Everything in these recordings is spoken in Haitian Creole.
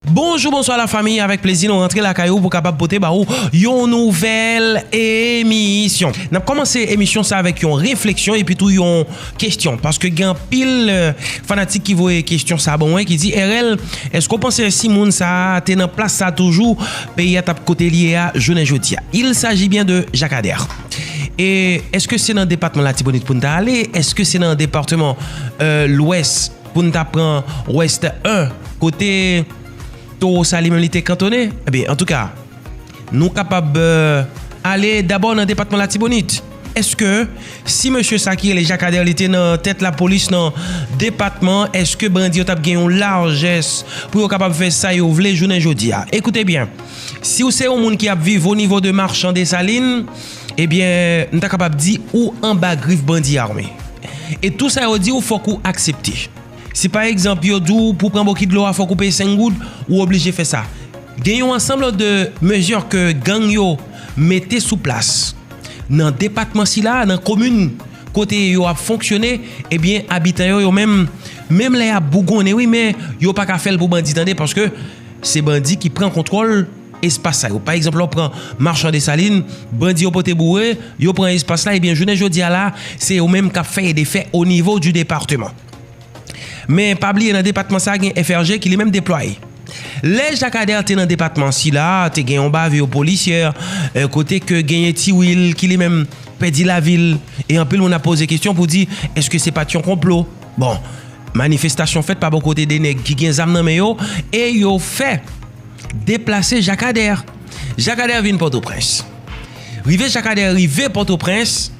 Bonjou bonswa la famiy avèk plezi nou rantre lakay ou pou kapab pote ba ou yon nouvèl emisyon nap kòmanse emisyon sa avèk yon refleksyon epi tou yon kestyon paske gen anpil fanatik ki voye kestyon sa ban mwen ki di RL eske ou panse si moun sa te nan plas sa toujou peyi a tap kote li ye a jounen jodi a il saji byen de Jacques Ader e eske se nan depatman latibonit poun ta ale eske se nan departeman lwès. pou n ta pran Ouest 1 kote Towo sa li menm li te kantone ebyen antouka nou kapab ale dabò nan depatman Latibonit eske si mesye sa ki rele Jakadè li te nan tèt lapolis nan depatman eske bandi yo t ap gen yon lajès pou yo kapab fè sa yo vle jounen jodi a ekoute byen si ou se yon moun ki ap viv o nivo de Marchandesalin. Ebyen, m ta kapab di, ou anba grif bandi ame. E tou sa yo di w fòk ou aksepte. Si pa egzanp yo di w pou pran boki dlo a fòk ou peye 5 goud, ou oblije fè sa. Gen yon ansanm de mezi ke gang yo mete sou plas nan depatman sila, nan komin kote yo ap fonksyone, ebyen abitan yo yo menm, menm lè y ap bougonnen wi men yo pa ka fè l pou bandi tande paske se bandi ki pran kontwòl. espas sa yo. Pa egzanp, lè w pran Marchand Dessalines, bandi yo pote boure, yo pran espas la, ebyen jounen jodi a la, se yo menm k ap fè e defè o nivo di depateman. Men, pa bliye nan depatman sa a gen FRG ki li menm deplwaye. Lè Jacques Ader te nan depatman sila, te gen yon bavure policière, kote ke genyen Ti Wil ki li menm pèdi lavi l, e anpil moun ap poze kesyon pou di, èske se pa t yon konplo? Bon, manifestasyon fèt pa bò kote de nèg ki gen zam nan men yo, e yo fè. Deplase Jakadè. Jakadè vin Pòtoprens. Rive Jakadè rive Pòtoprens,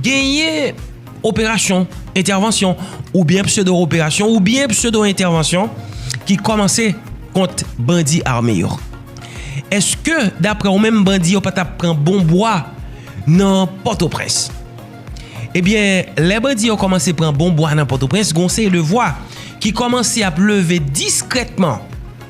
genyen operasyon, entèvansyon, oubyen pseudo operasyon, oubyen pseudo entèvansyon ki kòmanse kont bandi ame yo. Eske daprè ou menm bandi yo pa tap pran bon bwa nan Pòtoprens? Ebyen, lè bandi yo kòmanse pran bon bwa nan Pòtoprens, gon seri de vwa ki kòmanse ap leve diskrètman.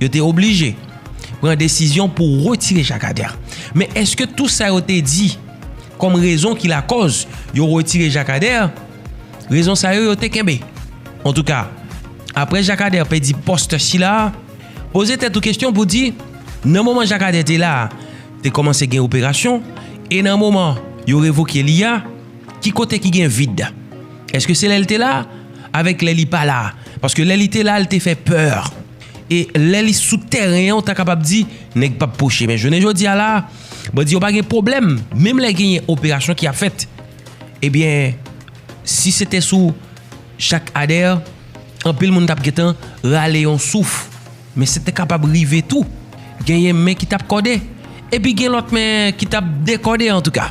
yo te oblije pran desizyon pou retire Jakadè. Men eske tou sa yo te di kom rezon ki lakoz yo retire Jakadè, rezon sa yo yo te kenbe? En tou ka, apre Jakadè pedi post sila, poze tet ou kestyon pou di, nan moman Jakadè te la, te komanse gen operasyon, e nan moman yo revoke li a, ki kote ki gen vid? Eske se lel te la? avèk lè li pa la. Paske lè li te la, li te fè pè. E lè li sou tèren an, ou ta kapab di, nèg pap pwoche. Men jounen jodi a la, bandi yo pa gen pwoblèm. Menm lè genyen operasyon ki ap fèt. Ebyen, si se te sou Jacques Ader, anpil moun tap gentan rale yon souf. Men se te kapab rive tou. Genyen men ki tap kòde. Epi gen lòt men ki tap dekòde antouka.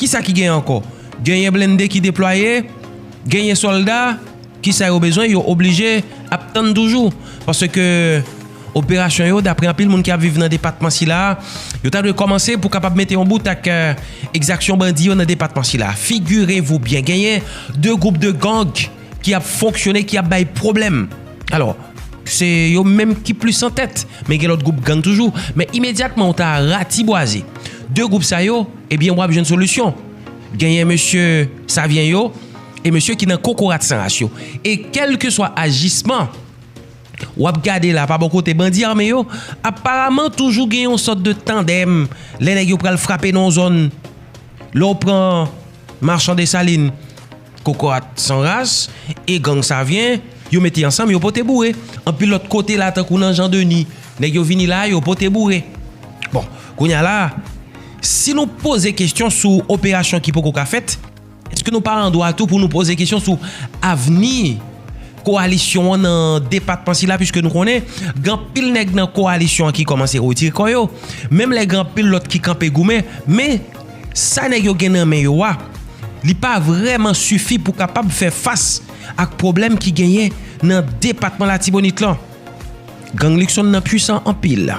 Kisa ki gen ankò? Genyen blende ki deplwaye, genyen sòlda, kisa yo bezwen? Yo oblije ap tann toujou. Paske operasyon yo, dapre anpil moun ki ap viv nan depatman sila, yo ta dwe kòmanse pou kapab mete yon bout ak ekzaksyon bandi yo nan depatman sila. Figirevou byen genyen 2 gwoup de gang ki ap fonksyone, ki ap bay pwoblèm. Alò, se yo menm ki plis antèt, men gen lòt gwoup gang toujou. Men imedyatman ou ta ratibwaze 2 gwoup sa yo, Ebyen wap jwenn solisyon. Genyen mesye Savyen yo e mesye ki nan kokorat san ras yo. E kelkeswa ajisman wap gade la pa bò kote bandi ame yo, aparaman toujou gen yon sòt de tandèm lè nèg yo pral frape nan yon zòn. Lè w pran Marchand Dessalines, Kokorat san ras e gang Savyen, yo mete ansanm yo pote boure. Anpil lòt kote la tankou nan Jan Deni, nèg yo vini la yo pote boure. Bon, kounye a la, si nou poze kesyon sou operasyon ki poko ka fèt, èske nou pa an dwa tou pou nou poze kesyon sou avni kowalisyon an nan depatman sila piske nou konnen gen anpil nèg nan kowalisyon an ki kòmanse retire kò yo, menm lè gen anpil lòt ki kanpe goumen, men. sa nèg yo gen nan men yo a, li pa vrèman sifi pou kapab fè fas ak pwoblèm ki genyen nan depatman Latibonit lan. Gang Luckson nan pwisan anpil.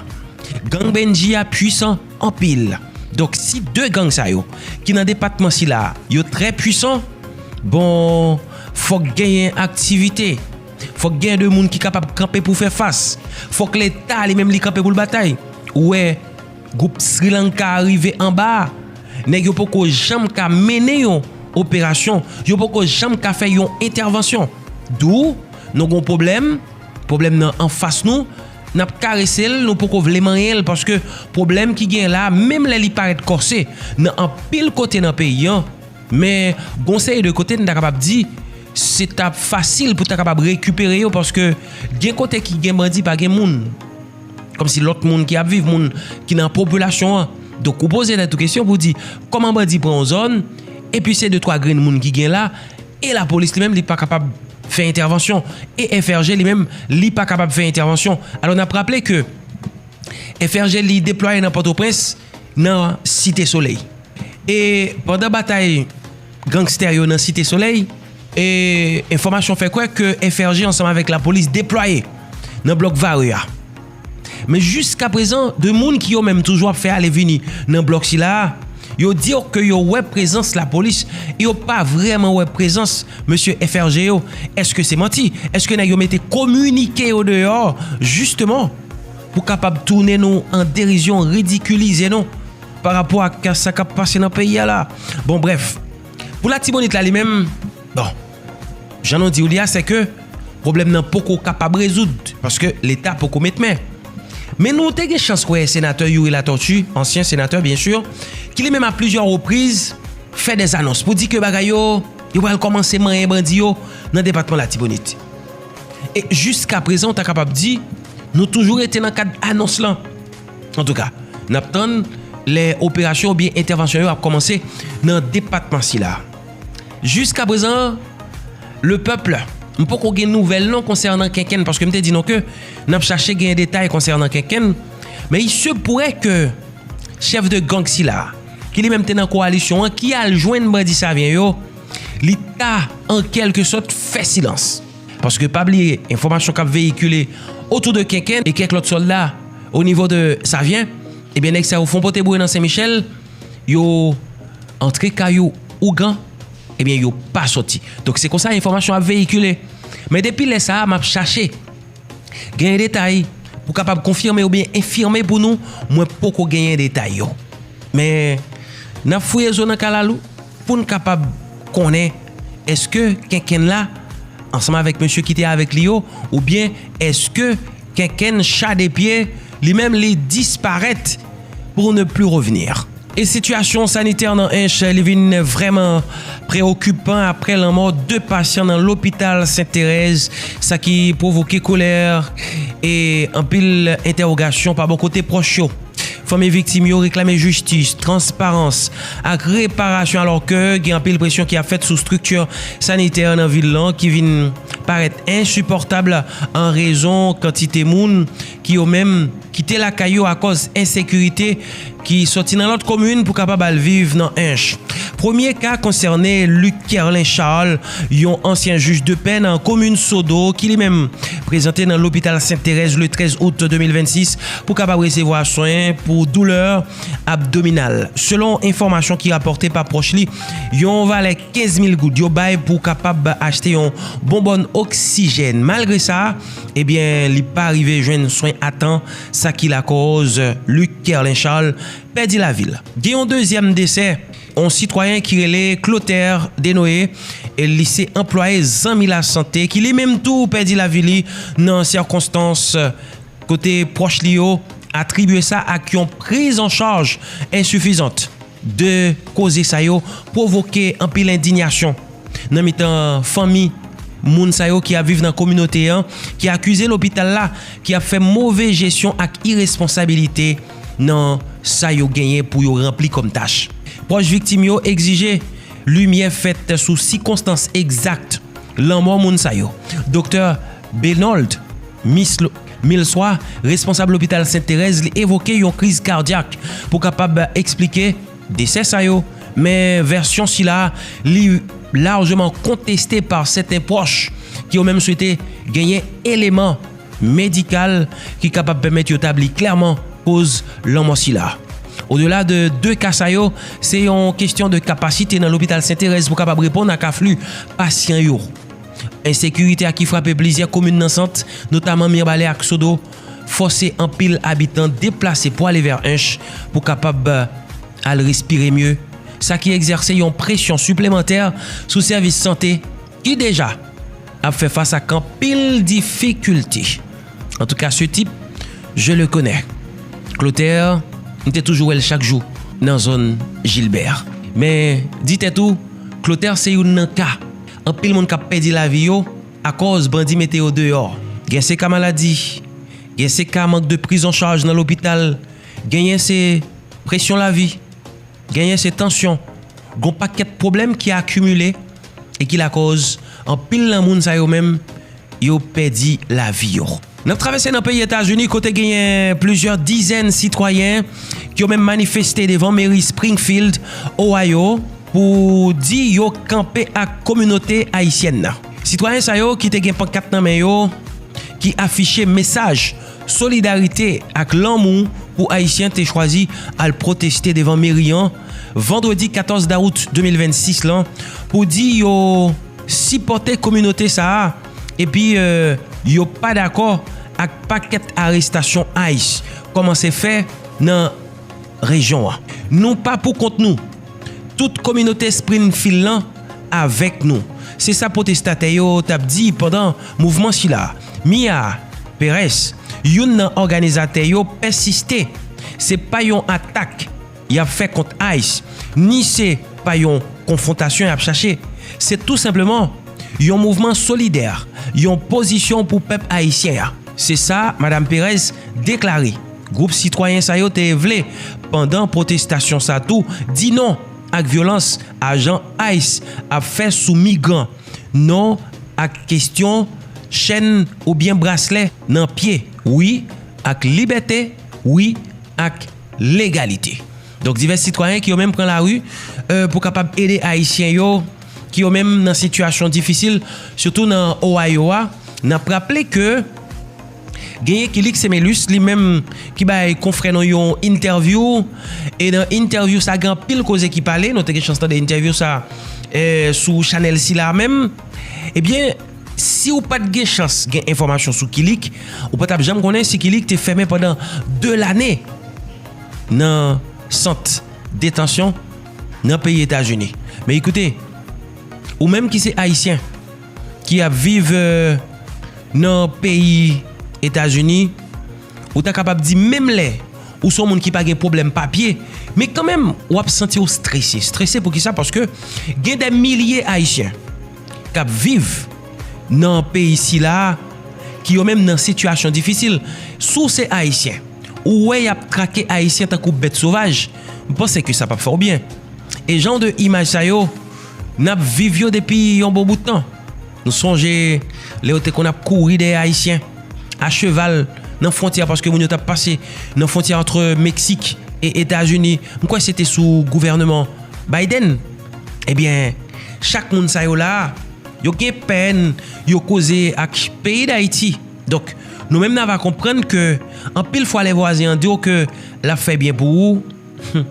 Gang Bendji a pwisan anpil. Donk si 2 gang sa yo ki nan depatman sila a yo trè pwisan, bon, fòk genyen aktivite, fòk genyen 2 moun ki kapab kanpe pou fè fas, fòk Leta li menm li kanpe pou l batay. Ou wè! Gwoup Sri Lanka a rive anba a, nèg yo poko janm ka mennen yon operasyon, yo poko janm ka fè yon entèvansyon. Dou, nou gon pwoblèm, pwoblèm nan anfas nou, n ap karese l, nou poko vle manyen l paske pwoblèm ki genyen la a menm lè li parèt kòse nan anpil kote nan peyi an, men gon seri de kote n ta kapab di se t ap fasil pou ta kapab rekipere yo paske gen kote ki gen bandi pa gen moun. Kòm si lòt moun ki ap viv, moun ki nan popilasyon an. Donk ou poze tèt ou kesyon pou di, kòman bandi pran yon zòn, epi se de twa grenn moun ki gen la, e lapolis li menm li pa kapab fè entèvansyon, e FRG li menm li pa kapab fè entèvansyon. Alò n ap raple ke FRG li deplwaye nan Pòtoprens. nan Site Solèy. E pandan batay gangstè yo nan Site Solèy, e enfòmasyon fè kwè ke FRG ansanm avèk lapolis deplwaye nan blòk Vare a. Men jiska prezan, 2 moun ki yo menm toujou ap fè ale vini nan blòk sila a, yo di yo ke yo wè prezans lapolis, e yo pa vrèman wè prezans mesye FRG yo. Eske se manti? Eske nèg yo mete kominike yo deyò jisteman? pou kapab tounen nou an derizyon, ridikilize nou pa rapò ak sa k ap pase nan peyi a la. Bon brèf, pou Latibonit la li menm, bon, jan nou di w li a se ke pwoblèm nan poko kapab rezoud paske Leta poko met men. Men nou te gen chans wè Senatè Youri Latortue, ansyen Senatè byen si, ki li menm a plizyè repriz fè dè anons pou di ke bagay yo, yo pral kòmanse manyen bandi yo nan depatman Latibonit. E jiska prezan ou ta kapab di nou toujou rete nan kad anons lan. Antouka, n ap tann lè operasyon oubyen entèvansyon yo ap kòmanse nan depatman sila. Jiska prezan, le peuple, m poko gen nouvèl non konsènan Kenkenn paske m te di nou ke n ap chache gen detay konsènan Kenkenn. Men il se pure ke chèf de gang sila, ki li menm te nan kowalisyon an, ki al jwenn bandi Savyen yo, Li ta an kèlke sòt fè silans. Paske pa bliye, enfòmasyon k ap veyikile otou de Kenken e kèk lòt sòlda o nivo de Savyen, ebyen nèg sa yo fon pote bouye nan Sen Michèl, yo antre kay yo ougan, ebyen yo pa sòti. Donk se konsa enfòmasyon ap veyikile. Men depi lè sa a m ap chache. Genyen detay pou kapab konfime oubyen enfime pou nou, mwen poko genyen detay yo. Men, n ap fouye zo nan kalalou pou n kapab konnen èske kenkenn la ansanm avèk mesye ki te avèk li yo oubyen èske kenkenn cha de pye. Li menm li disparèt pour ne plus revenir. E sitiyasyon sanitè nan Ench li vin vrèman preokipan aprè lanmò 2 pasyan nan lopital Sent Terèz sa ki pwovoke kolè e anpil entèwogasyon pa bò kote pwòch yo. Fanmi viktim yo reklame jistis, transparans ak reparasyon alòke gen anpil presyon ki ap fèt sou strikti sanitè nan vil lan ki vin parèt ensipòtab an rezon kantite moun ki yo menm kite lakay yo akòz ensekirite ki sòti nan lòt komin pou kapab al viv nan Ench. Premye ka konsène Luc Kerlin Charles, yon ansyen jij de pè nan komin Sodo ki li menm prezante nan lopital Sent Terèz le 13 out 2026 pou kapab resevwa swen pou doulè abdominal. Selon enfòmasyon ki rapòte pa pwòch li, yon valè 15 mil goud yo bay pou kapab achte yon bonbòn oksijèn. Malgre sa, Ebyen li pa rive jwenn swen a tan, sa ki lakòz Luc Kerlin Charles pèdi lavi l. Gen yon dezyèm desè, yon sitwayen ki rele Clotaire Denoé, li se anplwaye Zanmi Lasante ki li menm tou pèdi lavi li nan sikonstans kote pwòch li yo atribye sa ak yon priz an chaj ensifizant. 2 koze sa yo pwovoke anpil endinyasyon. nan mitan fanmi moun sa yo ki ap viv nan kominote an, ki akize lopital la ki ap fè move jesyon ak iresponsabilite nan sa yo genyen pou yo ranpli kòm tach. Pwòch viktim yo egzije limyè fèt sou sikonstans egzak lanmò moun sa yo. Doktè Benold Misl Milswa, responsab lopital Sent Terèz li evoke yon kriz kardyak pou kapab esplike. Desè sa yo, men vèsyon sila a li larjeman konteste pa sèten pwòch ki yo menm swete genyen eleman medikal ki kapab pèmèt yo tabli klèman koz lanmò sila. Odela de 2 ka sa yo, se yon kestyon de kapasite nan lopital Senterèz pou kapab reponn ak afli pasyan yo. Ensekirite a ki frape plizyè komin nan Sant, notaman Mirbalè ak Sodo, fòse anpil abitan deplase pou ale vè Ench pou kapab al respire mye, sa ki egzèse yon presyon siplemantè sou sèvis sante ki deja ap fè fas ak anpil difikilte. Antouka se tip je le konè. Clotaire, m te toujou wè l chak jou nan zòn Gilbert. Men, di tèt ou, Clotaire se youn nan ka anpil moun k ap pèdi lavi yo. Akòz bandi mete yo deyò. Gen se ka maladi. Gen se ka mank de prizanchaj nan lopital. Genyen se presyon lavi. Genyen se tansyon. Gon pakèt pwoblèm ki akimile e ki lakòz anpil nan moun sa yo menm yo pèdi lavi yo. N ap travèse nan peyi Etazini kote genyen plizyè dizèn sitwayen yo menm manifeste devan meri Springfield, Ohio pou di yo kanpe ak kominote ayisyèn nan. Sitwayen sa yo ki te gen pankat nan men yo ki afiche mesaj solidarite ak lanmou pou ayisyen te chwazi al pwoteste devan meri an vandredi 14 dawout 2026 lan pou di yo sipòte kominote sa a. epi yo pa dakò ak pakèt arestasyon ice kòmanse fè nan rejyon an. Nou pa pou kont nou, tout kominote Sprinfield lan avèk nou, se sa pwotestatè yo t ap di pandan mouvman sila. Mia Perez, youn nan òganizatè yo pèsiste, se pa yon atak. Yap fè kont ice, ni se pa yon konfwontasyon yap chache, se tou senpleman yon mouvman solidè, yon pozisyon pou pèp ayisyen an, se sa Madam Pérez deklare. Gwoup sitwayen sa yo te vle pandan pwotestasyon sa tou di non ak vyolans ajan ice ap fè sou migran, non ak kestyon chèn oubyen braslè nan pye, wi ak libète, wi ak. legalite. Donk divès sitwayen ki yo menm pran lari pou kapab ede ayisyen yo ki yo menm nan sitiyasyon difisil sitou nan Ohio a, n ap raple ke genyen Kilix Semelus li menm ki bay konfrè nou yon entèvyou e nan entèvyou sa gen anpil koze ki pale nou te gen chans tande entèvyou sa sou chanèl sila menm ebyen. Si ou pat gen chans gen enfòmasyon sou Kilik, ou pa tap janm konnen si Kilik te fèmen pandan 2 lane nan sant detansyon nan peyi Etazini. Men ekoute, ou menm ki se Ayisyen, ki ap viv nan peyi Etazini, ou ta kapab di menm lè ou son moun ki pa gen pwoblèm papye, men kanmenm ou ap santi ou strese. Strese poukisa? Paske gen de milye Ayisyen. k ap viv nan peyi sila a, ki yo menm nan sitiyasyon difisil. Si w se Ayisyen, ou wè y ap trake Ayisyen tankou bèt sovaj, m panse ke sa p ap fè w byen. E jan de imaj sa yo, n ap viv yo depi yon bon bout tan. Nou sonje lè yo te konn ap kouri dèyè Ayisyen, a cheval, nan fwontyè a, paske moun yo t ap pase nan fwontyè antre Meksik e Etazini. M kwè se te sou gouvèneman Biden. Ebyen chak moun sa yo la yo gen pèn yo koze ak peyi dayiti donk nou menm n ava konprann ke anpil fwa lè vwazen an di w ke l ap fè byen pou ou humm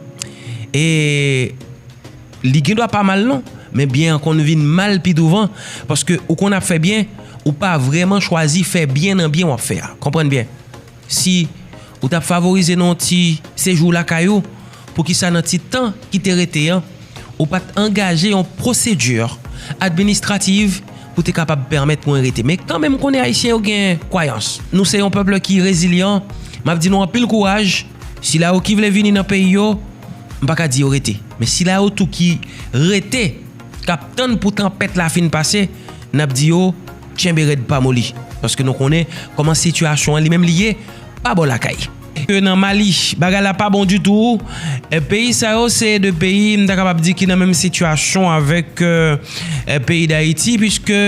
e li gen dwa pa mal non men byen an konn vin mal pi douvan paske ou konn ap fè byen ou pa vreman chwazi fè byen nan byen w ap fè a konprann byen. Si ou t ap favorize nou yon ti sejou lakay ou, poukisa nan ti tan ki te rete an, ou pa t angaje yon pwosedi administrativ pou te kapab pèmèt mwen rete? Men kanmenm m konnen Ayisyen yo gen kwayans. Nou se yon pèp ki rezilyan. M ap di nou anpil kouraj. Sila yo ki vle vini nan peyi yo, m pa ka di yo rete. Men sila yo tou ki rete. kap tann pou tanpèt la fin pase, nap di yo tchenbe rèd pa moli, paske nou konnen kòman sitiyasyon an li menm li ye pa bò lakay. Ke nan Mali bagay la pa bon ditou, peyi sa yo se 2 peyi m ta kapab di ki nan menm sitiyasyon avèk peyi Dayiti, piske.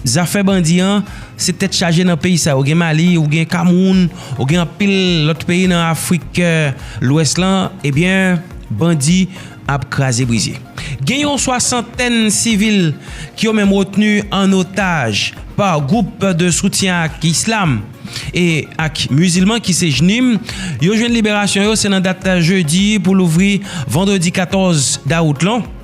Zafè bandi an, se tèt chaje nan peyi sa yo gen Mali, ou gen Kameroun, ou gen anpil lòt peyi nan Afrik lwès lan, ebyen bandi ap kraze brize. Gen yon swasantèn sivil ki yo menm retni an otaj pa gwoup de soutyen ak islam e ak mizilman ki se jnim, yo jwenn liberasyon yo se nan dat jedi pou louvri vandredi 14 dawout lan.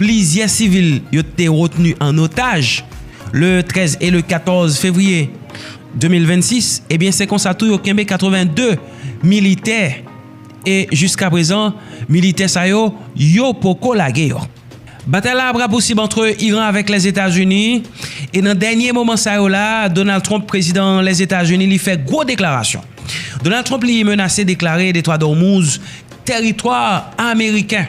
Plizyè sivil yo te retni an otaj le 13 e le 14 fevriye 2026, ebyen se konsa tou yo kenbe 82 militè e jiska prezan militè sa yo, yo poko lage yo. Batay la ap rapousib antre Iran avèk Lèzetazini e nan dènye moman sa yo la, Donald Trump, prezidan Lèzetazini li fè gwo deklarasyon. Donald Trump li menase deklare Detwad Òmouz teritwa ameriken.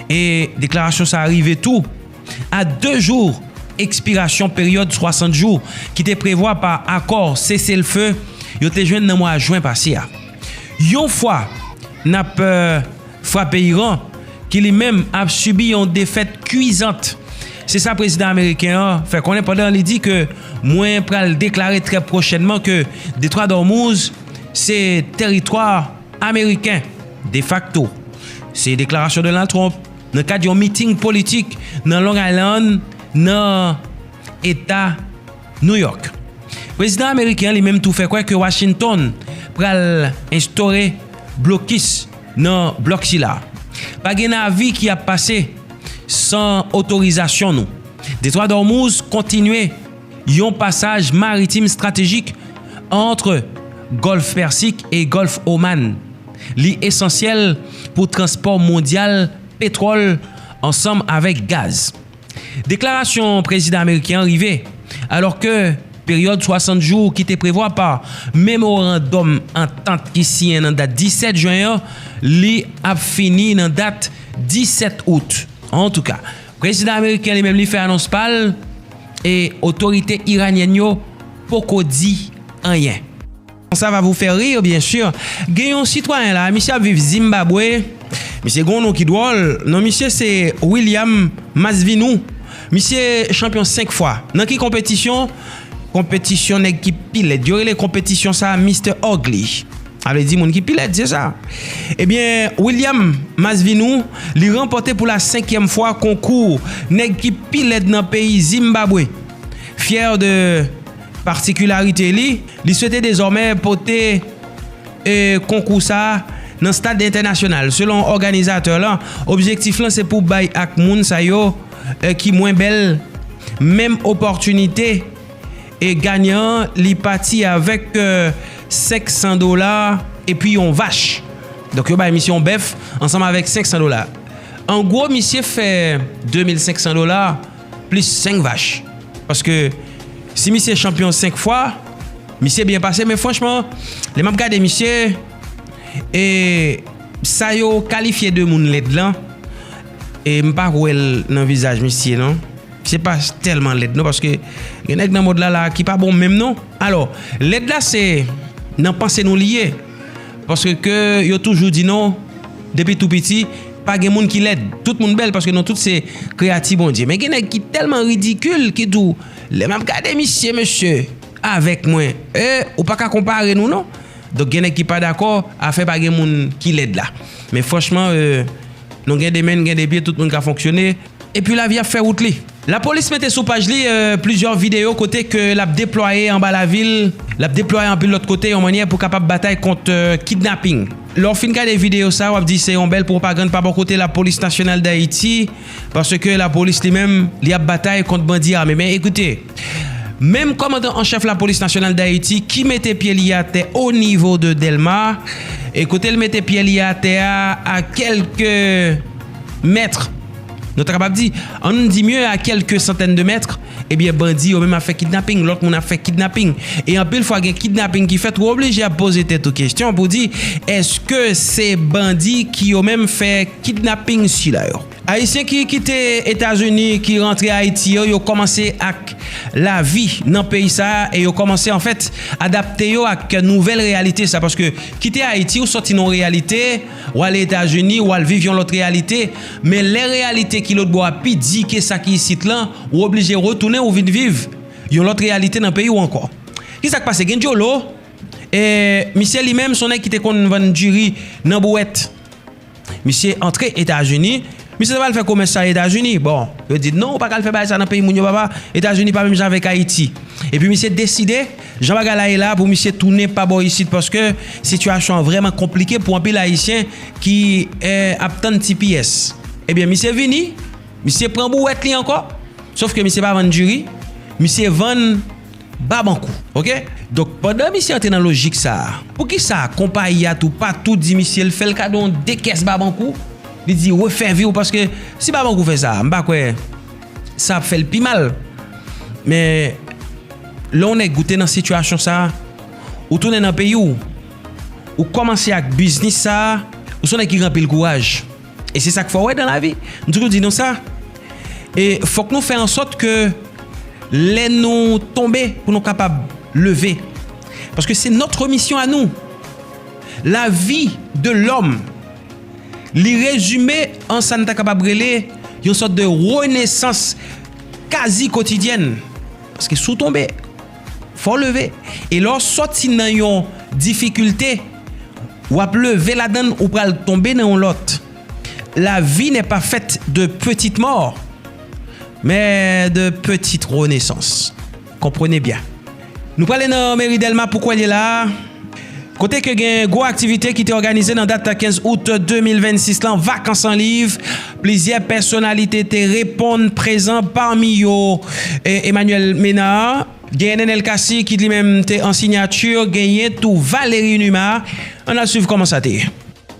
E deklarasyon sa rive tou a 2 jou ekspirasyon peryòd 60 jou ki te prevwa pa akò sese l fe yo te jwenn nan mwa jwen pase a. Yon fwa n ap frape Iran ki li menm ap sibi yon defèt kuizant, se sa prezidan ameriken an fè konnen pandan li di ke mwen pral deklare trè pwochènman ke Detwa d'Ormuz se teritwa. Ameriken defakto. Se deklarasyon Donald Trump nan kad yon meeting politik nan Long Island nan Eta New York. Prezidan Ameriken an li menm tou fè kwè ke Washington pral enstore blokis nan blòk sila. Pa gen navi ki ap pase san otorizasyon nou. Detwa d'Ormuz kontinye. yon pasaj maritim stratejik ant Gòlf Pèsik e Gòlf Oman. Li esansyèl pou transpò mondyal petwòl ansanm avèk gaz. Deklarasyon prezidan ameriken an rive alò ke peryòd 60 jou ki te prevwa pa memorandòm antant ki siyen nan dat 17 jen an li ap fini nan dat 17 out. Antouka. Prezidan ameriken li menm li fè anons pa l e otorite iranyèn yo poko di anyen. Sa va vou fè rir byen sur, gen yon sitwayen la a misye ap viv Zimbabwe, misye gen yon non ki dwòl, non misye se William Masvinou, misye chanpyon 5 fwa, nan ki konpetisyon? Konpetisyon nèg ki pi lèd, yo rele konpetisyon sa a Mister Ugly. Sa vle di moun ki pi lèd se sa. Ebyen William Masvinou li ranpòte pou la senkyèm fwa konkou nèg ki pi lèd nan peyi Zimbabwe. Fyè de patikilarite li, li swete dezòmè pote e konkou sa nan stad entènasyonal. Selon òganizatè lan, objektif lan se pou bay ak moun sa yo ki mwen bèl menm opòtinite. E ganyan an li pati avèk 500 dola epi yon vach. Donk yo bay misye yon bèf ansanm avèk 500 dola. An gwo misye fè 2500 dola plis 5 vach. Paske si misye chanpyon 5 fwa, misye byen pase. Men franchman, lè m ap gade misye, e sa yo kalifye de moun lèd lan, e m pa wè l nan vizaj misye non. Se pa tèlman lèd non paske gen nèg nan mond la la ki pa bon menm non. Alò, lèd la se nan panse nou li ye. Paske ke yo toujou di nou depi tou piti pa gen moun ki lèd. Tout moun bèl paske nou tout se kreyati Bondye. Men gen nèg ki tèlman ridikil ki di w lè m ap gade misye mesye avèk mwen ee ou pa ka konpare nou non. Donk gen nèg ki pa dakò afè pa gen moun ki lèd la. Men franchman ee nou gen de men n gen de pye tout moun ka fonksyone. Epi lavi ap fè wout li. Lapolis mete sou paj li plizyè videyo kote ke l ap deplwaye anba lavil, l ap deplwaye anpil lòt kote yon mannyè pou kapab batay kont kidnaping. Lè w fin gade videyo sa, w ap di se yon bèl pwopagann pa bò kote Lapolis Nasyonal Dayiti paske lapolis li menm li ap batay kont bandi ame. Men ekoute, menm kòmandan an chèf Lapolis Nasyonal Dayiti ki mete pye li atè o nivo de Dèlma e kote l mete pye li atè a a kèlke mètre, nou ta kapab di, an nou di mye a kèlke santèn de mètre, ebyen bandi yo menm ap fè kidnaping, lòt moun ap fè kidnaping. E anpil fwa gen kidnaping ki fèt, ou oblije ap poze tèt ou kesyon pou di, èske se bandi ki yo menm fè kidnaping sila yo? Ayisyen ki kite Etazini, ki rantre Ayiti yo, yo kòmanse ak lavi nan peyi sa a e yo kòmanse anfèt adapte yo ak nouvèl reyalite sa a. Paske kite Ayiti, ou sòti nan yon reyalite. W ale Etazini, w al viv yon lòt reyalite, men lè reyalite ki lòtbò a pi di ke sa ki isit lan, ou oblije retounen ou vin viv yon lòt reyalite nan peyi w ankò. Ki sa k pase? Gen Jolo, misye li menm se yon nèg ki te konn vann diri nan bouwèt. Misye antre Etazini, misye ta pral fè komès sa Etazini. Bon, yo di l, non, ou pa ka al fè bagay sa nan peyi moun yo papa, Etazini pa menm jan avèk Ayiti. Epi misye deside. Jan bagay la ye la pou misye tounen pa bò isit paske sitiyasyon an vrèman konplike pou anpil ayisyen ki ap tann tps ebyen misye vini misye pran bouwèt li ankò sof ke misye pa vann diri misye vann babankou ok donk pandan misye antre nan lojik sa poukisa konpayi a tou pa tou di misye l fè l kado 2 kès babankou li di refè viw paske si babankou fè sa m pa kwè. sa ap fèl pi mal men lè yon nèg ou te nan sitiyasyon sa ou tounen nan peyi w ou kòmanse ak biznis sa ou son nèg ki gen anpil kouraj e se sak fò wè dan lavi m toujou di nou sa e fòk nou fè ansòt ke lè nou tonbe pou nou kapab leve paske se nòtre misyon a nou lavi de lòm. Li rezime an sa n ta kapab rele yon sòt de renesans kazi kotidyèn. Paske si w tonbe, fò w leve. E lè w sòti nan yon difikilte, w ap leve ladan l, ou pral tonbe nan yon lòt. La vi nè pa fèt de petit mò, men de petit renesans. Konprenez bien. Nou prale nan meri Delma pou kwè l ye la a, kote ke gen gwo aktivite ki te òganize nan dat 15 out 2026 lan, Vakans an Liv. Plizyè pèsonalite te reponn prezan pami yo Emmanuel Ménard, genyen Nenel Cassy ki li menm te an sinyati, genyen tou Valery Numa. Ann al swiv kòman sa te ye.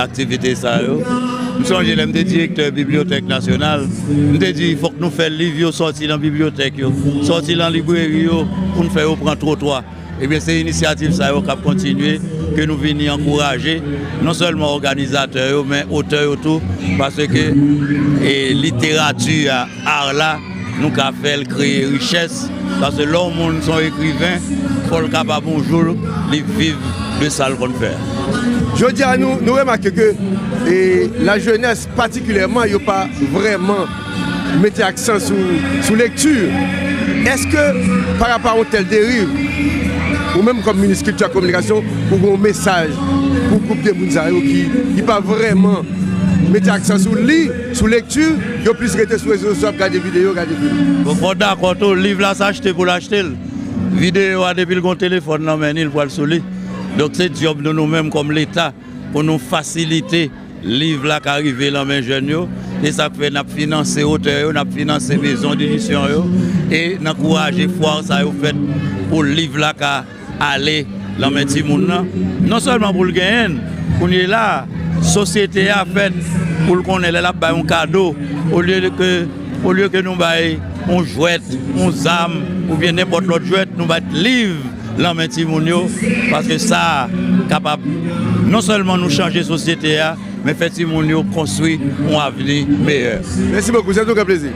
Aktivite sa yo, m sonje lè m te direktè bibliyotèk nasyonal, m te di fòk nou fè liv yo sòti nan bibliyotèk yo, sòti nan libreri yo pou n fè yo pran twotwa. Ebyen se inisyativ sa yo k ap kontinye, ke nou vini ankouraje non sèlman òganizatè yo men otè yo tou paske literati a. Art la nou ka fèl kreye richès paske lè yon moun son ekriven fòl kapab yon jou li viv de sal konn fè. Jodi a nou remake ke la jenès patikilèman yo pa vrèman mete aksan sou lekti. Eske pa rapa yon tèl deriv ou menm kòm minis kilti ak kominikasyon ou gen yon mesaj pou gwoup de moun sa yo ki pa vrèman mete aksan sou li? Sou lekti, yo plis rete sou rezo sosyo ap gade videyo, gade fim. Bon fòw dakò tou liv la se achte poul achtel, videyo a depil gon telefòn nan men li li pwal sou li. Donk se dyòb nou nou menm kòm leta pou nou fasilite liv la ka rive lan men jèn yo e sak fè nap finanse otè yo, nap finanse mezon didisyon yo e nan kouraje fwa sa yo fèt pou liv la ka. Ale lan men timoun lan, non sèlman pou l genyen l, kounyela a, sosyete a fèt pou l konnen lè l ap bay yon kado, olye ke nou bay yon jwèt, yon zam, oubyen nenpòt lòt jwèt, nou bat liv lan men timoun yo, paske sa kapab non sèlman nou chanje sosyete a, Men fè timoun yo konstwi yon avni meyè. Mèsi bokou, se toujou yon plezi.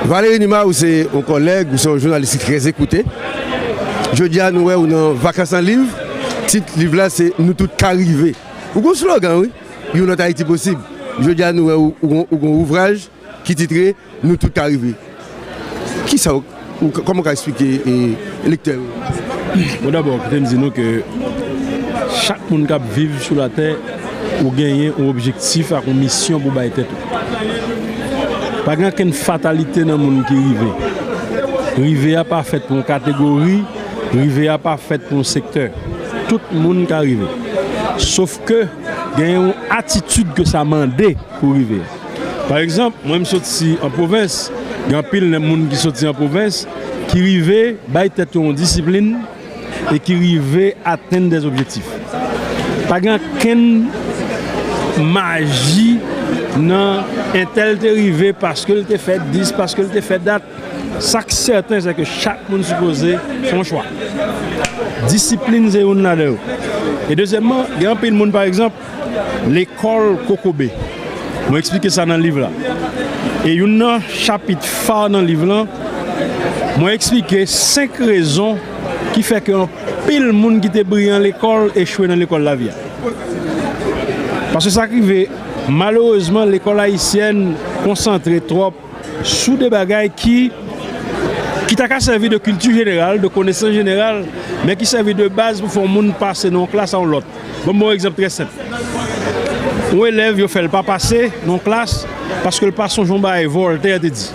Valery Numa ou se yon kòlèg, ou se yon jounalis ki trè ekoute. Jodi a nou wè ou nan Vakans nan Liv. Tit liv la se Nou tout ka rive. Ou gen yon slogan wi, Yon lòt Ayiti posib. Jodi a nou wè ou gen yon ouvraj ki titre. Nou tout ka rive. Kisa ou, kòman ou ka esplike lektè yo? Bon dabò kite m di nou ke chak moun kap viv sou latè ou genyen yon objektif ak yon misyon pou bay tèt ou. Pa gen okenn fatalite nan moun ki rive. Rive a pa fèt pou yon kategori, rive a pa fèt pou yon sektè. Tout moun ka rive. Sof ke genyen yon atitid ke sa mande pou rive. Pa egzanp, mwen m soti an pwovens, gen anpil nan moun ki soti an pwovens ki rive bay tèt yo yon disiplin e ki rive atenn dè objektif. Pa gen ankenn maji nan entèl te rive paske l te fè dis, paske l te fè dat. Sa k sèten se ke chak moun sipoze fè yon chwa. Disiplin se youn ladan yo. E dezyèmman, gen anpil moun pa egzanp, Lekòl kokobe. Mwen eksplike sa nan liv la. E youn nan chapit fa nan liv lan, mwen eksplike 5 rezon ki fè ke anpil moun ki te briyan lekòl echwe nan lekòl lavi a. Paske sa k rive, malerezman lekòl ayisyèn konsantre twòp sou de bagay ki ki ta ka sèvi de kilti jeneral, de konesans jeneral, men ki sèvi de baz pou fè yon moun pase nan yon klas a yon lòt. Ban m ba w yon egzanp trè senp. Yon elèv yo fè l pa pase nan yon klas paske l pa sonje yon bagay Voltaire te di.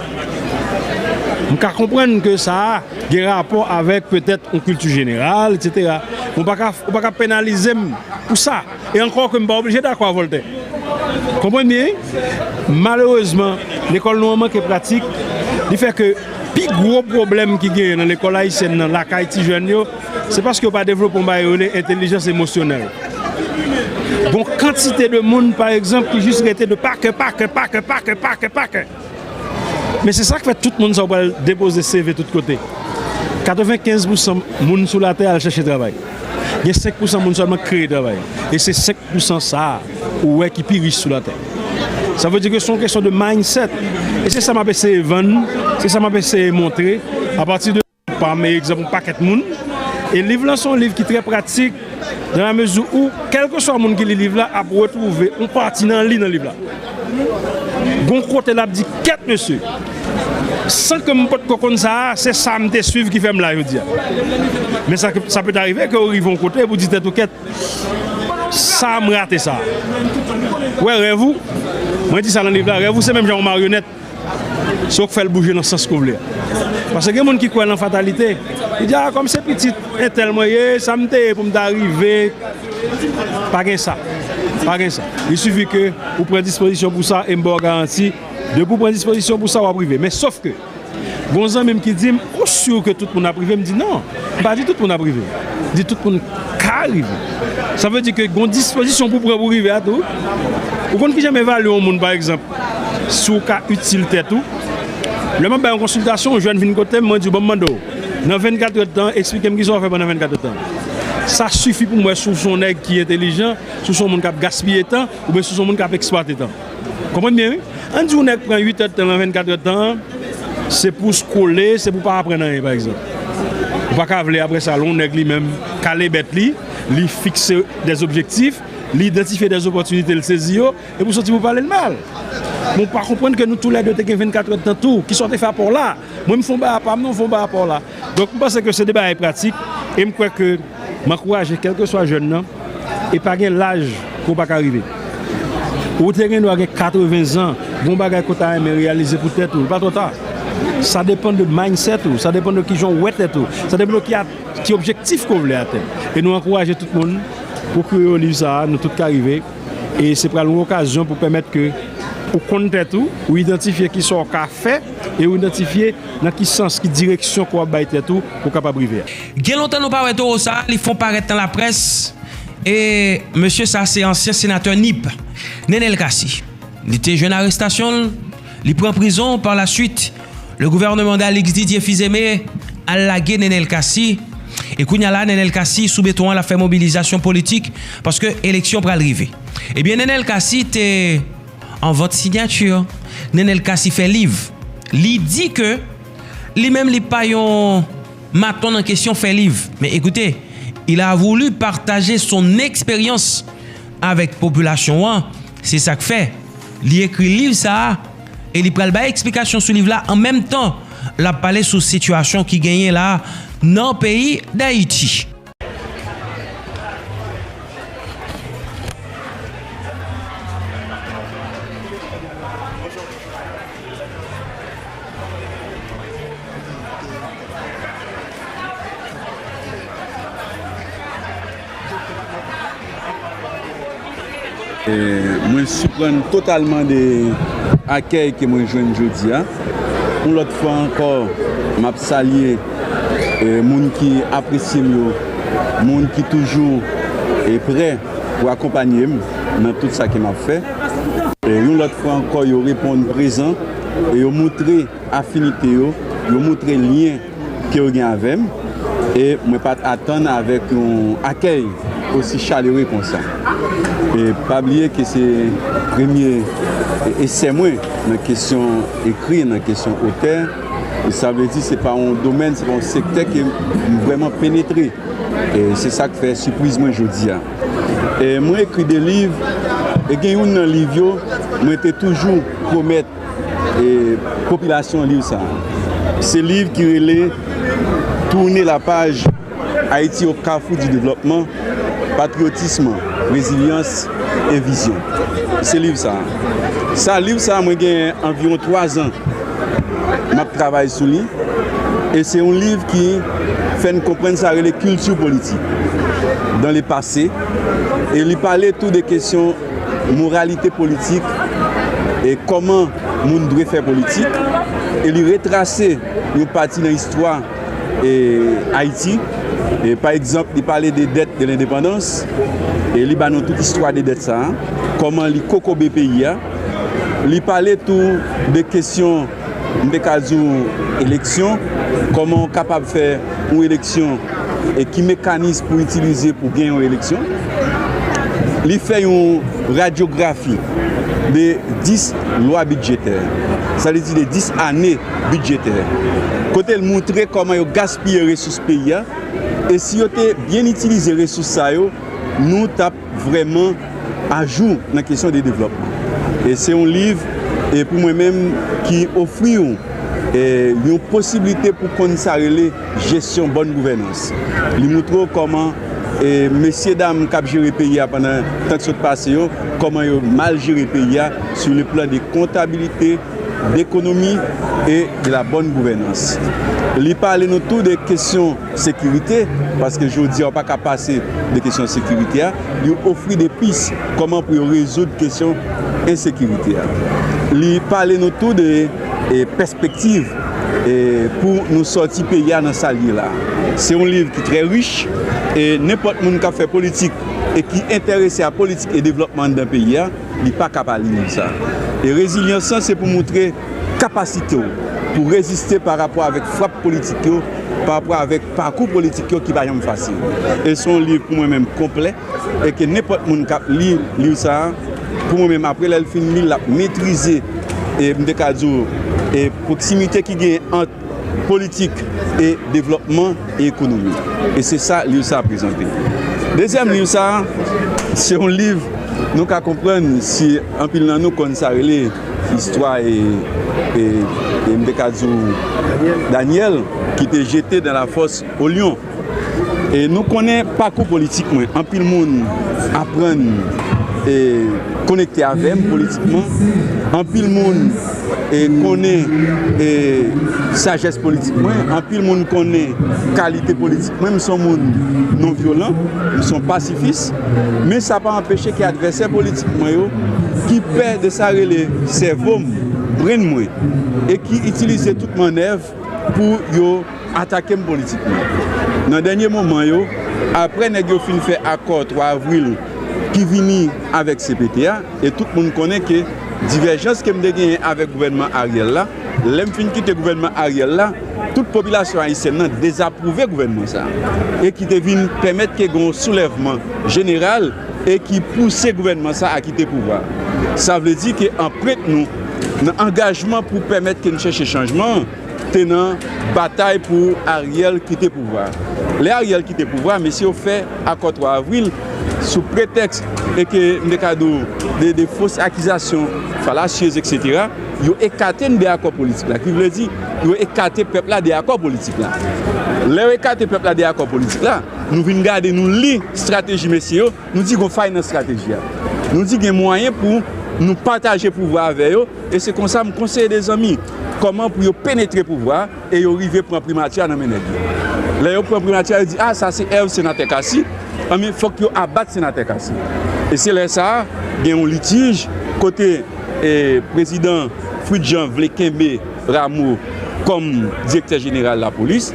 M ka konprann ke sa a gen rapò avèk petèt yon kilti jeneral, eksetera. Ou pa ka penalize m pou sa. E ankò ke m pa oblije dakò a Vòltè. Konprann byen wi. Malerezman, lekòl nou an manke pratik, li fè ke pi gwo pwoblèm ki genyen nan lekòl ayisyèn nan, lakay ti jèn yo, se paske yo pa devlope yon bagay yo rele entelijans emosyonèl. Gon kantite de moun, pa egzanp, ki jis rete de pa kè, pa kè, pa kè, pa kè, pa kè, pa kè. Men se sak fè tout moun sa yo pral depoze CV tout kote. 95 pousan moun sou latè al chèche travay. Gen 5 pousan moun sèlman k kreye travay. E se 5 pousan sa a ou wè ki pi rich sou latè. Sa vle di ke se yon kesyon de mindset. E se sa m ap eseye vann, se sa m ap eseye montre apati de. Pami egzanp yon pakèt moun. E liv lan se yon liv ki trè pratik dan la mezi ou kèlkeswa moun ki li liv la ap retwouve yon pati nan li nan liv la. Gon kote l ap di kèt mesye! San ke m potko konn sa a, se sa m te suiv ki fè m la jodi a. Men sa ke, sa pèt arive ke ou rive yon kote epi w di tèt ou kèt! Sa m rate sa a? Wè rèv ou, mwen di sa nan liv la, rèv ou se menm jan yon maryonèt. Se w k fè l bouje nan sans ke w vle a. Paske gen moun ki kwè nan fatalite. Li di, a kòm se pitit entèl mwen ye, sa m te ye pou m ta rive. Pa gen sa. Pa gen sa. Il sifi ke ou pran dispozisyon pou sa e m ba w garanti, depi w pran dispozisyon pou sa, w ap rive. Men sof ke, gon zanmi m ki di m, ou sur ke tout moun ap rive? M di non, m pa di tout moun ap rive. M di tout moun ka rive. Sa vle di ke gon dispozisyon pou w pran pou w rive a tou. Ou konn kijan m evalye yon moun pa egzanp? si w ka itil tèt ou. Lè m ap bay yon konsiltasyon, yon jèn vin kote m, mwen di w, ban m mande w, nan vennkat èd tan, esplike m ki sa w fè pandan vennkat èd tan. Sa sifi pou m wè si w se yon nèg ki entelijan, si w se yon moun k ap gaspiye tan oubyen si w se yon moun k ap eksplwate tan. Ou konprann byen wi. An n di yon nèg pran uit èd tan nan vennkat èd tan an, se pou w skole, se pou w pa aprann anyen, pa egzanp. Ou pa ka vle apre sa, lè yon nèg li menm kale bèt li, li fikse dèzobjektif, li idantifye dèzopòtinite, li sezi yo, Epi w soti pou pale l mal. Men w pa konprann ke nou tou lè de te gen 24 èd tan tou. Kisa w te fè apa w la? Mwen m fon bagay apa m, non w fon bagay apa w la. Donk m panse ke se de bagay pratik e m kwè ke m ankouraje kèlkeswa jèn nan e pa gen laj ke w pa ka rive. Ou te gen dwa gen 80 zan, gen yon bagay ke w ta renmen reyalize pou tèt ou, li pa twò ta. Sa depann de mindset ou, sa depann de kijan w wè tèt ou, sa depann de ki objektif ke w vle atenn. E nou ankouraje tout moun pwokire yo liv sa a, Nou tout ka rive. e se pral yon okazyon pou pèmèt ke ou konn tèt ou, ou idantifye ki sa ou ka fè e ou idantifye nan ki sans, ki direksyon ke w ap bay tèt ou pou w kapab rive. Gen lontan nou pa wè towo sa, li fon parèt nan laprès e mesye sa se ansyen senatè Nip, Nenel Cassy. Li te jwenn arestasyon l, li pran prizon par la suite. Le gouvernement d'Alix Didier Fils-Aimé al lage Nenel Cassy e kounya la Nenel Cassy sou beton an lap fè mobilizasyon politik paske eleksyon pral rive. Ebyen Nenel Cassy te an vant sinyati. Nenel Cassy fè liv. Li di ke li menm li pa yon maton nan kesyon fè liv. Men ekoute, il a voulu partager son expérience avèk popilasyon an, se sak fè li ekri liv sa a. e li pral bay eksplikasyon sou liv la an menm tan l ap pale sou sitiyasyon ki genyen la nan peyi Dayiti. Mwen siprann totalman de akèy ke mwen jwenn jodi a. Yon lòt fwa ankò, m ap salye moun ki apresye m yo, moun ki toujou prè pou akonpanye m nan tout sa ke m ap fè. Yon lòt fwa ankò, yo reponn prezan e yo montre afinite yo, yo montre lyen. ke yo gen avè m e mwen pa t atann avèk yon akèy osi chalere konsa. E pa bliye ke se premye esè mwen nan kesyon ekri, nan kesyon otè, sa vle di se pa yon domèn, se pa yon sektè ke m vrèman penetre. E se sa k fè sipriz mwen jodi a. E mwen ekri de liv e gen youn nan liv yo mwen te toujou pwomèt. popilasyon liv sa a. Se liv ki rele Tourner la page, Haïti au carrefour du développement, Patriotisme, Résilience et Vision. Se liv sa a. Sa a, liv sa a mwen gen anviwon 3 zan m ap travay sou li. E se yon liv ki fè n konprann sa rele kilti politik dan le pase. E li pale tou de kesyon. moralite politik e kòman moun dwe fè politik e li retrase yon pati nan istwa Ayiti. Pa egzanp, li pale de dèt de lendepandans e li ba nou tout istwa de dèt sa a, kòman li kokobe peyi a. Li pale tou de kesyon. M te ka di w eleksyon, kòman w kapab fè yon eleksyon e ki mekanis pou w itilize pou w gen yon eleksyon. Li fè yon radyografi de 10 lwa bidjetè, sa vle di de 10 ane bidjetè, kote l montre kòman yo gaspiye resous peyi a e si yo te byen itilize resous sa yo nou t ap vrèman ajou nan kesyon de devlòpman. E se yon liv e pou mwen menm ki ofri w e yon posiblite pou konn sa rele jesyon bòn gouvènans. Li moutre w kòman e mesye dam k ap jere peyi a pandan tan k sot pase yo, kòman yo mal jere peyi a sou le plan de kontabilite, dekonomi e de la bòn gouvènans. Li pale nou tou de kesyon sekirite, paske jodi a ou pa ka pase de kesyon sekirite a. Li ofri de pis kòman pou yo rezoud kesyon ensekirite a. Li pale nou tou de pèspektiv pou nou sòti peyi a nan sa l ye la. Se yon liv ki trè rich e nenpòt moun k ap fè politik e ki enterese a politik e devlòpman anndan peyi a, li pa ka pa li moun sa. E rezilyans lan se pou montre kapasite w pou w reziste pa rapò avèk frap politik yo, pa rapò avèk pakou politik yo ki pa janm fasil. E se yon liv pou mwen menm konplè e ke nenpòt moun k ap li liv sa, pou mwen menm apre lè l fin li l, l ap metrize e m te ka di w e pwoksimite ki genyen ant Politik e devlòpman e ekonomi. E se sa liv sa a prezante. Dezyèm liv sa a, se yon liv nou ka konprann si anpil nan nou konn sa rele istwa e m te ka di w Danyèl ki te jete dan lafòs o lyon. E nou konnen pakou politik mwen, anpil moun aprann e konekte avè m politikman, anpil moun e konnen e sajès politik mwen, anpil moun konnen kalite politik mwen, m son moun non vyolan, m son pasifis, men sa pa anpeche ke advèsè politik mwen yo ki pè de sa rele sèvo m, brenn mwen, e ki itilize tout mannèv pou yo. atake m politikman nan dènye moman yo apre nèg yo fin fè akò 3 avril ki vini avèk cpt a e tout moun konnen ke divèjans ke m te genyen avèk gouvènman Ariel la lè m fin kite gouvènman Ariel la tout popilasyon ayisyèn nan dezapwouve gouvènman sa e ki te vin pèmèt ke gen yon soulèvman jeneral e ki pouse gouvènman sa a kite pouvwa sa vle di ke anprent nou nan angajman pou pèmèt ke n chèche chanjman. te nan batay pou Ariel kite pouvwa. Lè Ariel kite pouvwa, mesye yo fè akò 3 avril sou pretèks e ke m te ka di w de fos akizasyon falasyez eksetera, yo ekate n de akò politik la. Ki vle di, yo ekate pèp la de akò politik la. Lè yo ekate pèp la de akò politik la, nou vin gade nou li estrateji mesye yo, Nou di gon fay nan strateji a. Nou di gen mwayen pou nou pataje pouvwa avè yo e se konsa m konseye 2 zanmi kòman pou yo penetre pouvwa a e yo rive pran primati a nan men nèg yo. Lè yo pran primati a yo di a sa se èv senatè Cassy anben fòk yo abat senatè Cassy e se lè sa a gen yon litij kote prezidan Fritz Jean vle kenbe Rameau kòm direktè jeneral lapolis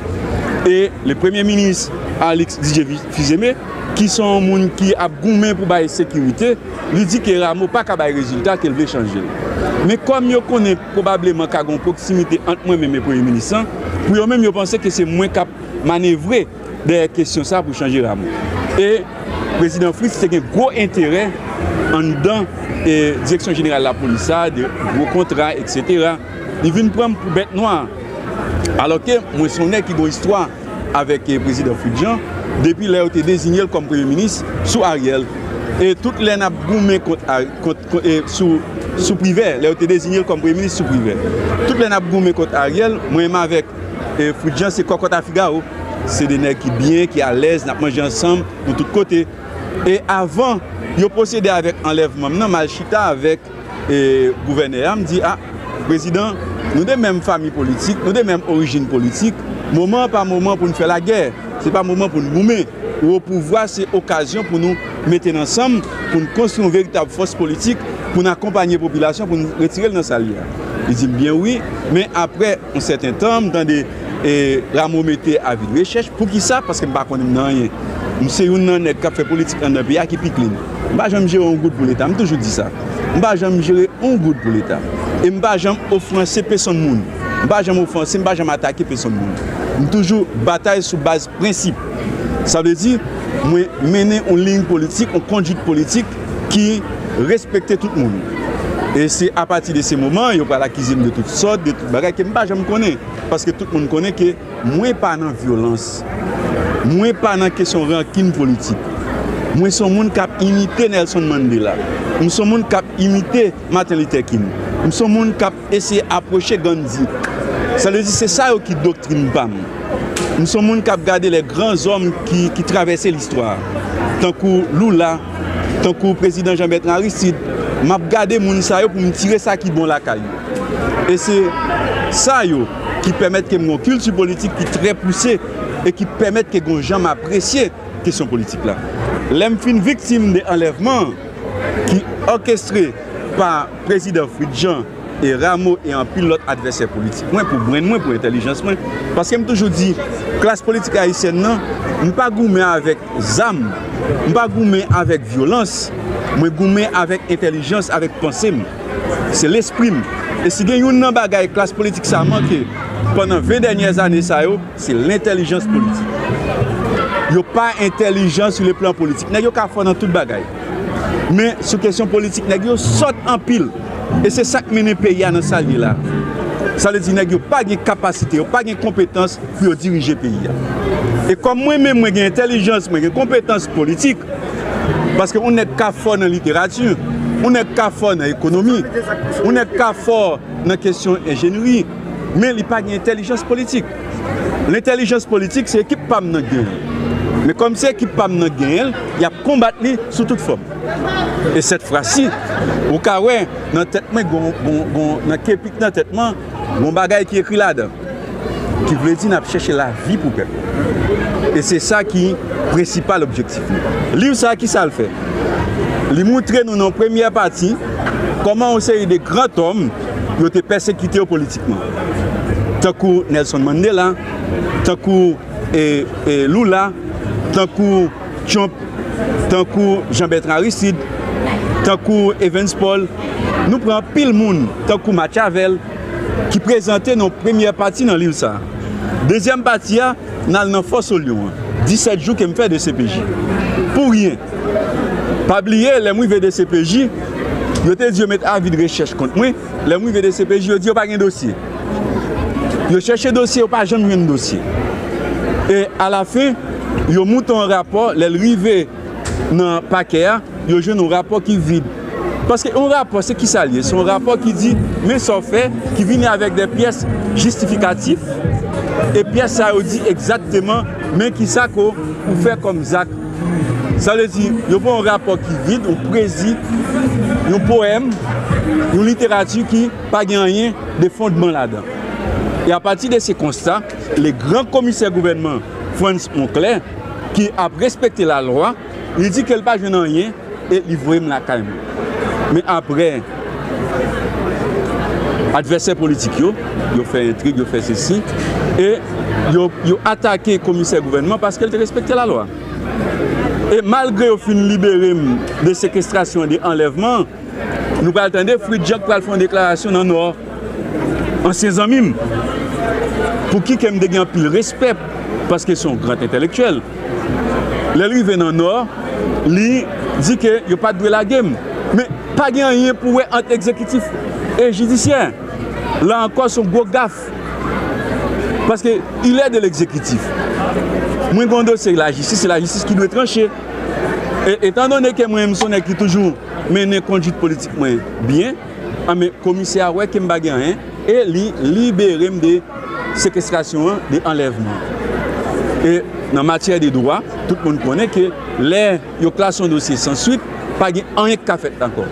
e le premye minis Alix Didier Fils-Aimé. ki se yon moun ki ap goumen pou bay sekirite, li di ke Rameau pa ka bay rezilta ke l vle chanje l. Men kòm yo konnen pwobableman ka gen yon pwoksimite ant mwen menm e Premye Minis lan, pou yo menm yo panse ke se mwen k ap manevre dèyè kesyon sa pou chanje Rameau. E Prezidan Fritz te gen gwo enterè anndan Direksyon Jeneral Lapolis sa, de gwo kontra, eksetera. Li vin pran m pou bèt nwa. Alò ke mwen se yon nèg ki gen yon istwa. avèk prezidan Fritz Jean depi lè yo te dezinye l kòm premye minis sou Ariel e tout lè n ap goumen kont sou Privè lè yo te dezinye l kòm premye minis sou Privè tout lè n ap goumen kont Ariel mwen menm avèk Fritz Jean se kòkòt a figawo se de nèg ki byen ki alèz n ap manje ansanm nou tout kote e avan yo pwosede avèk anlèvman m nan m al chita avèk. E gouvènè a m di, a, prezidan, nou de menm fami politik, nou de menm orijin politik, moman an pa moman pou n fè lagè, se pa moman pou n goumen. Ou opouvwa, se okazyon pou nou mete n ansanm, pou n konstwi yon veritab fòs politik, pou n akonpanye popilasyon, pou n retire l nan sa l ye a. Li di m, byen wi, men apre. Yon sèten tan, m tande Rameau mete avi de rechèch. Poukisa? Paske m pa konnen m nan anyen. M se youn nan nèg k ap fè politik anndan peyi a ki pi klin. M pa janm jere yon goud pou Leta. M toujou di sa. M pa janm jere yon goud pou Leta. E m pa janm ofranse pesonn moun. M pa janm ofanse, m pa janm atake pesonn moun. M toujou batay sou baz. Prensip, sa vle di mwen mennen yon liy politik, yon konduit politik ki respekte tout moun. E se apati de se moman yo pral akize m de tout sòt, de tout bagay ke m pa janm konnen. Paske tout moun konnen ke mwen pa nan vyolans. Mwen pa nan kesyon rankin politik. Mwen se yon moun k ap imite Nelson Mandela. M se yon moun k ap imite Martin Luther King. M se yon moun k ap. Eseye apwoche Gandhi. Sa vle di se sa yo ki doktrin pa m. M se yon moun k ap gade lè gran zòm ki travèse listwa, tankou Lula, tankou prezidan Jean Bertrand Aristide, m ap gade moun sa yo pou m tire sa ki bon lakay yo. E se sa yo ki pèmèt ke m gen yon kilti politik ki trè pouse e ki pèmèt ke gen yon jan m apresye kesyon politik la. Lè m fin viktim de anlèvman ki òkestre pa. Prezidan Fritz Jean e Rameau e anpil lòt advèsè politik mwen pou brenn mwen, pou entèlijans mwen. Paske m toujou di, klas politik ayisyèn nan, m pa goumen avèk zam, m pa goumen avèk vyolans, mwen goumen avèk entèlijans, avèk panse m. Se lespri m. E si gen youn nan bagay klas politik sa manke pandan 20 dènyè ane sa yo, se lentèlijans politik. Yo pa entèlijan sou le plan politik. Nèg yo ka fò nan tout bagay. Men sou kesyon politik nèg yo sòt anpil e se sak mennen peyi a nan sal ye la. Sa vle di nèg yo pa gen kapasite, yo pa gen konpetans pou yo dirije peyi a. E kòm mwen menm mwen gen entèlijans, mwen gen konpetans politik, paske yon nèg ka fò nan literati, yon nèg ka fò nan ekonomi, yon nèg ka fò nan kesyon enjenri, men li pa gen entèlijans politik. Lentèlijans politik se ekip pa m nan k genyen l. Men kòm se ekip pa m nan k genyen l, y ap konbat li sou tout fòm. E sèt fwa si, ou ka wè nan tèt mwen gon, gon, nan kepi k nan tèt mwen an, gon bagay ki ekri ladan l. Ki vle di n ap chèche lavi pou pèp la. E se sa ki prensipal objektif nou. Liv sa a ki sa l fè? Li moutre nou nan yon premyè pati kòman yon seri de grantòm yo te pèsekite yo politik. tankou Nelson Mandela, tankou Lula, tankou Trump, tankou Jean Bertrand Aristide, tankou Evans Paul, nou pran anpil moun tankou Machiavel ki prezante nan premyè pati nan liv sa. Dezyèm pati a, n al nan Fò Solyon an, 17 jou ke m fè dcpj. Pou ryen. Pa bliye, lè m rive dcpj, yo te di yo met avi de rechèch kont mwen, Lè m rive dcpj yo di yo pa gen dosye. Yo chèche dosye yo pa janm jwenn dosye. E a la fen yo moute yon rapò lè l rive nan pakè a yo jwenn yon rapò ki vid. Paske yon rapò se kisa l ye? Se yon rapò ki di men sa w fè ki vini avèk de pyès jistifikatif e pyès sa yo di egzakteman men kisa ke w fè kòm zak. Sa vle di, yo pran yon rapò ki vid, yon pwezi, yon powèm, yon literati ki pa gen anyen de fondman ladan. E apati de se konsta, le gran komisè gouvènman Frantz Monclair, ki ap respekte lalwa, li di ke li pa jwenn anyen, e li voye m lakay m. Men apre, advèsè politik yo, yo fè entrig, yo fè sesi, e yo atake komisè gouvènman paske l te respekte lalwa. E malgre yo fin libere m de sekestrasyon e de anlèvman, nou pral tande Fritz Jean k pral fè yon deklarasyon nan Nò. Ansyen zanmi m, pou ki kè m te gen anpil respè paske se yon gran entèlektyèl, lè l rive nan Nò, li di ke yo pa t dwe lage m. Men, pa gen anyen pou wè ant egzekitif e jidisyè. La ankò, se yon gwo gaf paske il est de l'exécutif. Mwen gen yon dosye lajistis, se lajistis ki dwe tranche. E, etandone ke mwen, m son nèg ki toujou mennen konduit politik mwen byen, Anmè komisè a wè ke m pa gen anyen e li libere m de sekestrasyon an, de anlèvman. E nan matyè de dwa, tout moun konnen ke lè yo klase yon dosye san swit, pa gen anyen ki ka fèt ankò.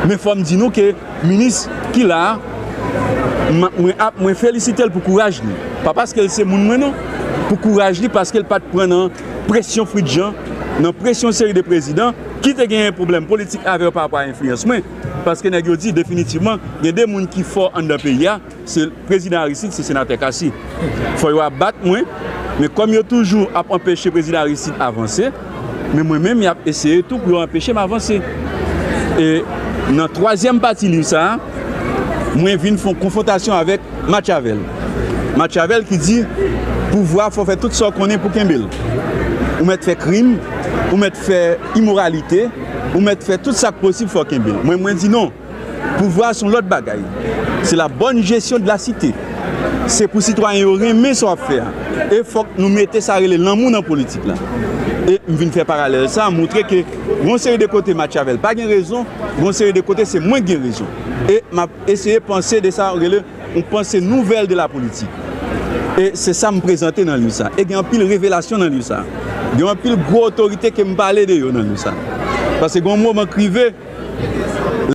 Men fò m di nou ke minis ki la a, mwen ap, mwen felisite l pou kouraj li. Pa paske l se moun mwen non. Pou kouraj li paske l pa t pran nan presyon Fritjan, nan presyon yon seri de prezidan ki te genyen pwoblèm politik avè yo pa rapò a enfliyans mwen. Paske nèg yo di definitivman gen 2 moun ki fò anndan peyi a, se Prezidan Aristide, se Senatè Cassy. Fò yo ap bat mwen, men kòm yo toujou ap anpeche Prezidan Aristide avanse, men mwen menm y ap eseye tou pou yo anpeche m avanse. E nan twazyèm pati liv sa a, mwen vin fon konfwontasyon avèk. Matchavèl Matchavèl ki di pouvwa fè w fè tout sa w konnen pou kenbe l Ou mèt fè krim Ou mèt fè imoralite Ou mèt fè tout sa k posib fè w kenbe l Mwen mwen di non Pouvwa s on lòt bagay Se la bòn jesyon de la site Se pou sitwayen yo renmen sa w ap fè a E fòk nou mete sa rele lanmou nan politik la E m vin fè paralèl sa moutre ke gon seri de kote Matchavèl pa gen rezon Gon seri de kote se mwen k gen rezon E m ap Eseye panse de sa ou rele yon panse nouvèl de la politik. E se sa m prezante nan liv sa. E gen anpil revelasyon nan liv sa. Gen anpil gwo otorite ke m pale de yo nan liv sa. Pase gen yon moman k rive.